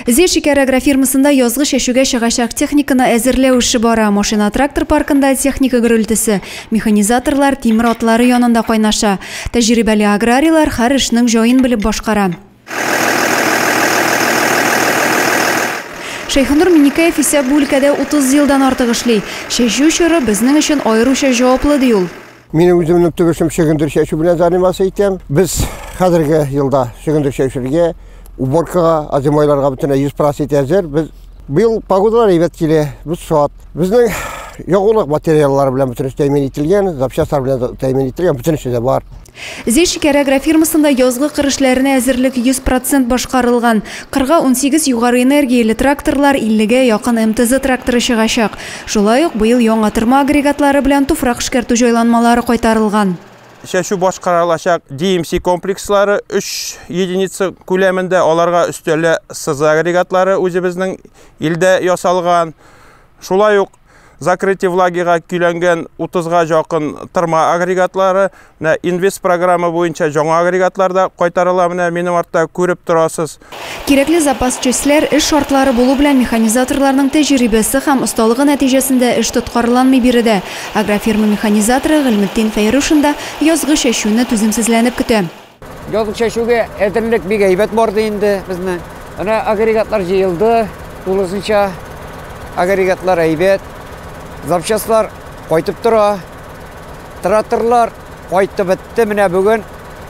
Зе шикәр агрофирмасында язгы чәчүгә чыгачак техниканы әзерләү эше бара. Машина-трактор паркында техника гөрелтесе, механизаторлар тимер атлары янында кайнаша. Тәҗрибәле аграрийлар һәр эшнең җаен белеп башкара. Шәйхенур Миннекәев исә бу өлкәдә 30 елдан артык эшли. Чәчү чоры безнең өчен аеруча җаваплы, ди ул. Мин үземнең төп эшем чөгендер чәчү белән заниматься итәм. Без хәзерге елда чөгендер чәчүгә, уборкага, азимойларга бөтен 100% итә әзер. Без быел погодалар әйбәт килә, без шат. Безнең ягулык материаллары белән бөтен тәэмин ителгән, запчастлар белән тәэмин ителгән, бөтен эше дә бар. Зәй шикәр агрофирмасында язгы кыр эшләренә әзерлек 100% башкарылган. Кырга унсигез югары энергияле тракторлар, 50 гә якын МТЗ тракторы чыгачак. Шулай ук быел яңа тырма агрегатлары белән туфрак эшкәртү җайланмалары кайтарылган. Чәчү башкарылачак DMC комплекслары 3 единица күләмендә, аларга өстәлә сызы агрегатлары үзебезнең илдә ясалган. Шулай ук закрытие влагига көйләнгән 30 га якын тырма агрегатлары Менә инвест программа буенча жаңа агрегатлар да кайтарыла, менә минем артта күреп торасыз. Кирәкле запас частьләр, эш шартлары булу белән механизаторларның тәҗрибәсе һәм осталыгы нәтиҗәсендә эш тоткарланмый биредә. Агрофирма механизаторы Гыйльметдин Фәйрушин да язгы чәчүне түземсезләнеп көтә. Язгы чәчүгә әзерлек бик әйбәт барды инде безнең. Менә агрегатлар җыелды, тулысынча агрегатлар әйбәт. Запчастьлар кайтып тора. Тратырлар кайтты бетте, менә бүген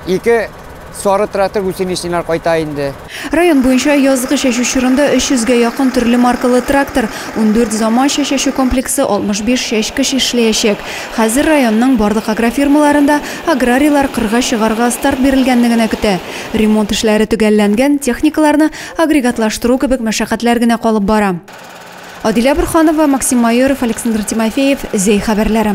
ике сары тратыр гусеничныйлар кайта инде. Район буенча язгы чәчү чорында 300 гә якын төрле маркалы трактор, ундүрт заманча чәчү комплексы, 65 чәчкеч эшләячәк. Хәзер районның барлык агрофирмаларында аграрийлар кырга чыгарга старт бирелгәнне генә көтә. Ремонт эшләре төгәлләнгән, техникаларны агрегатлаштыру кебек мәшәкатьләр генә калып бара. Адилә Борханова, Максим Майоров, Александр Тимофеев, Зәй хәбәрләре.